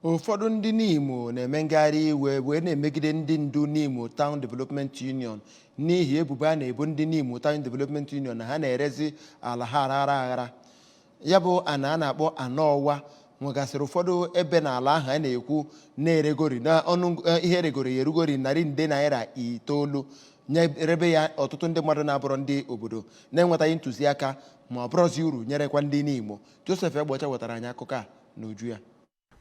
ụfọdụ ndị Nimo na-eme ngagharị iwe wee na-emegide ndị ndu Nimo Town Development Union n'ihi ebubo a na-ebo ndị Nimo Town Development Union na ha na-erezi ala ha aghara aghara ya bụ ana a na-akpọ Ana Ọwa nwegasịrị ụfọdụ ebe n'ala ahụ a na-ekwu na-eregori na ọnụ eh, ihe eregoro ya erugori narị nde naira itoolu nyerebe ya ọtụtụ ndị mmadụ na-abụrọ ndị obodo na-enwetaghị ntụziaka ma ọ bụrụzi uru nyerekwa ndị Nimo Joseph Egbeọcha wetara anyị akụkọ a n'uju ya.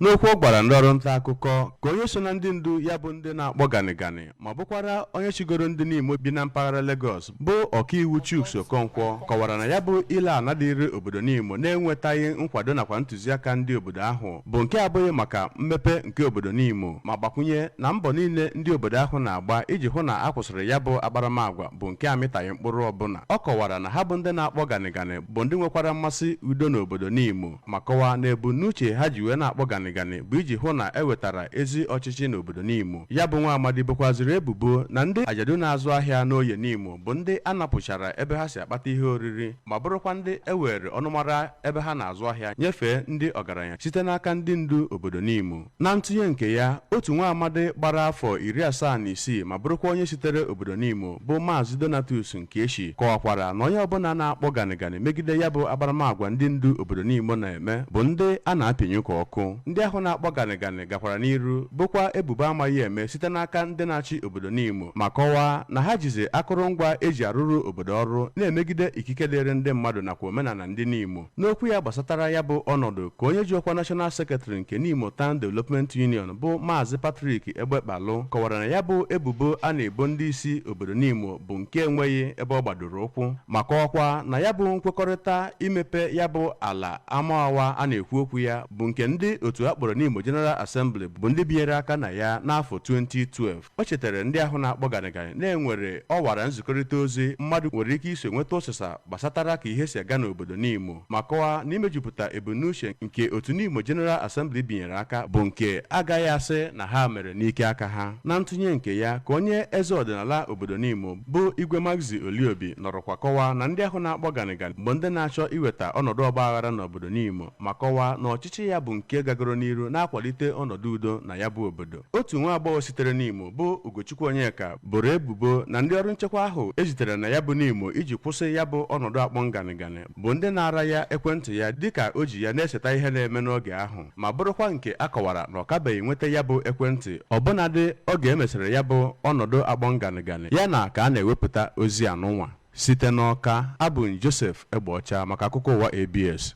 N'okwu ọ gwara ndị ọrụ nta akụkọ ka onye so na ndị ndu ya bụ ndị na-akpọ ganịganị ma bụkwara onye chịgoro ndị Nimo bi na mpaghara Legọs bụ ọkaiwu Chuks Okonkwo kọwara na ya bụ ile ana dịịrị obodo Nimo na-enwetaghị nkwado nakwa ntụziaka ndị obodo ahụ bụ nke abụghị maka mmepe nke obodo Nimo ma gbakwunye na mbọ niile ndị obodo ahụ na-agba iji hụ na a kwụsịrị ya bụ akparamagwa bụ nke amịtaghị mkpụrụ ọbụla ọ kọwara na ha bụ ndị na-akpọ ganịganị bụ ndị nwekwara mmasị udo n'obodo Nimo ma kọwaa na ebumnuche ha ji wee na-akpọ ganịganị bụ iji hụ na e wetara ezi ọchịchị n'obodo Nimo. Ya bụ nwa amadi bokwazịrị ebubo na ndị ajadu na-azụ ahịa n'Oye Nimo bụ ndị a napụchara ebe ha si akpata ihe oriri ma bụrụkwa ndị e weere ọnụmara ebe ha na-azụ ahịa nyefee ndị ọgaranya site n'aka ndị ndu obodo Nimo. Na ntụnye nke ya, otu nwa amadi gbara afọ iri asaa na isii ma bụrụkwa onye sitere obodo Nimo bụ Maazị Donatus Nkieshi kọwakwara na onye ọbụla na-akpọ ganịganị megide ya bụ akparamagwa ndị ndu obodo Nimo na-eme bụ ndị a na-apịnyụ ka ọkụ. Ndị ahụ na-akpọ ganịganị gakwara n'iru bokwa ebubo amaghị eme site n'aka ndị na-achị obodo Nimo ma kọwaa na ha jizi akụrụngwa e ji arụrụ obodo ọrụ na-emegide ikike dịịrị ndị mmadụ nakwa omenala ndị Nimo. N'okwu ya gbasatara ya bụ ọnọdụ ka onye ji ọkwa National Secretary nke Nimo Town Development Union bụ Maazị Patrick Egbekpalụ kọwara na ya bụ ebubo a na-ebo ndị isi obodo Nimo bụ nke enweghị ebe ọ gbadoro ụkwụ ma kọwakwa na ya bụ nkwekọrịta imepe ya bụ ala Amawa a na-ekwu okwu ya bụ nke ndị otu a kpọrọ Nimo General Assembly bụ ndị binyere aka na ya n'afọ 2012 o chetara ndị ahụ na-akpọ ganịganị na e nwere ọwara nzikọrịta ozi mmadụ nwere ike iso nweta ụsịsa gbasatara ka ihe si aga n'obodo Nimo ma kọwaa na imejupụta ebumnuche nke otu Nimo General Assembly binyere aka bụ nke a gaghị asị na ha mere n'ike aka ha na ntụnye nke ya ka onye eze ọdịnala obodo Nimo bụ Igwe Maxi Oliobi nọrọkwa kọwaa na ndị ahụ na-akpọ ganịganị bụ ndị na-achọ iweta ọnọdụ ọgba aghara n'obodo Nimo ma kọwaa na ọchịchị ya bụ nke gagoro n'iru na-akwalite ọnọdụ udo na ya bụ obodo Otu nwa agbọghọ sitere Nimo bụ Ugochukwu Onyeka boro ebubo na ndị ọrụ nchekwa ahụ e zitere na ya bụ Nimo iji kwụsị ya bụ ọnọdụ akpọm ganịganị bụ ndị naara ya ekwentị ya dịka o ji ya na-eseta ihe na-eme n'oge ahụ ma bụrụkwa nke a kọwara na ọ kabeghị enweta ya bụ ekwentị ọbụnadị oge e mesịrị ya bụ ọnọdụ akpọm ganịganị ya na ka a na-ewepụta ozi anụnwa site n'Ọka abụ m Joseph Egbeọcha maka akụkọ ụwa ABS